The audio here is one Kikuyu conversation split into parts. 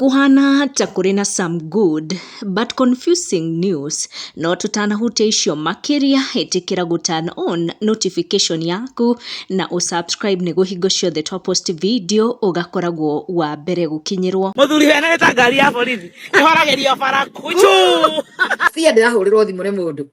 Kũhana ta kũrĩ na some good but confusing news no tũtanahutia icio makĩria ĩtĩkĩra gũ turn on notification yaku na ũ subscribe nĩguo hingo ciothe twa post video ũgakoragwo wa mbere gũkinyĩrwo. Mũthuri wene nĩ ta ngari ya borithi ĩhoragĩrio bara. Kũjũ! Fear ndĩrahũrĩrwo thimũ nĩ mũndũ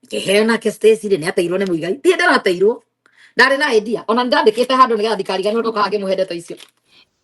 keheo nake stacy rä nä ateirwo nä må igai ndiä ndarateirwo ndarä na idea ona nä ndandä te handå nä getha ndikarigani å ndå kaga ngä må he ndeto icio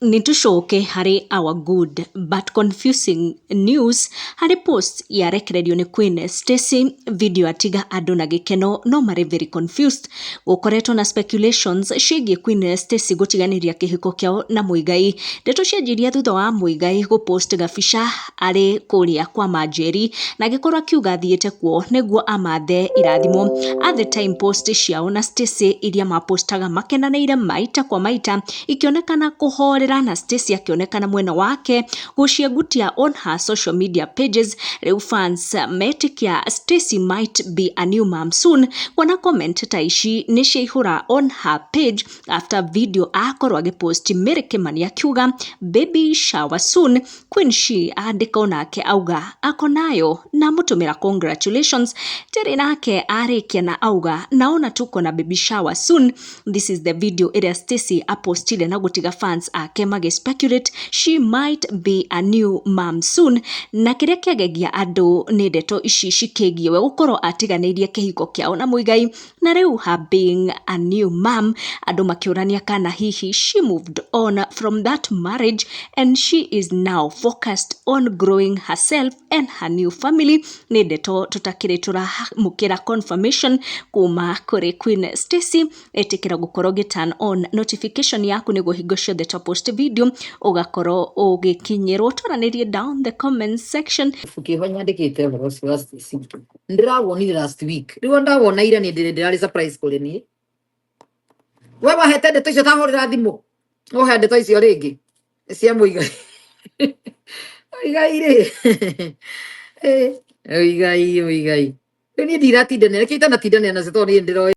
nitucoke harĩ our good but confusing news harĩ post yarekererio nĩ Queen Stacy video atiga andũ na gĩkeno no marĩ very confused gũkoretwo na speculations ciĩgiĩ Queen Stacy gũtiganĩria kĩhiko kĩao na Muigai ndeto cianjirie thutha wa Muigai gũpost gabica arĩ kũrĩa kwa Manjeri, na agĩkorwo akiuga athiĩte kuo nĩguo amathe irathimo. A The Time post ciao na Stacey iria ma postaga makenanĩire maita kwa maita, ikĩonekana kũhorera na Stacey akĩonekana mwena wake gũciengutia on her social media pages. Rĩu fans metĩkia Stacey might be a new mum soon, kuona comment ta ici nĩ ciaihũra on her page after video akorwo agĩ post Mary Kimani akiuga baby shower soon, Queen Shi andĩka o nake auga ako nayo na amũtũmĩra congratulations. Terry nake arĩkia na auga naona tuko na baby shower soon. This is the video ĩrĩa Stacy apostire na gũtiga fans ake magĩ speculate she might be a new mom soon. Na kĩrĩa kĩagegia andũ nĩ ndeto ici cikĩgiĩ we gũkorwo atiganĩirie kĩhiko kĩao na Muigai Na rĩu haping a new mum, andũ makĩũrania kana hihi she moved on from that marriage and she is now focused on growing herself and her new family. Nĩ ndeto tũtakĩrĩ tũramũkĩra confirmation kuma kũrĩ Queen Stacy. Ĩtĩkĩra gũkorwo ũgĩ turn on notification yaku nĩguo hingo ciothe twa post video ũgakorwo ũgĩkinyĩrwo. Twaranĩrie down the comment section. Ibuku kĩho nyandĩkĩte ũhoro ũcio wa Stacy. ndirawonire last week riu ndawona ira ni ndire ndirari surprise kuri ni we wahete ndeto icio tahurira thimu uhe ndeto icio ringi cia muiga igai ri igai igai riu ni ndiratindanira ki itanatindanira nacio tondu ni ndiroe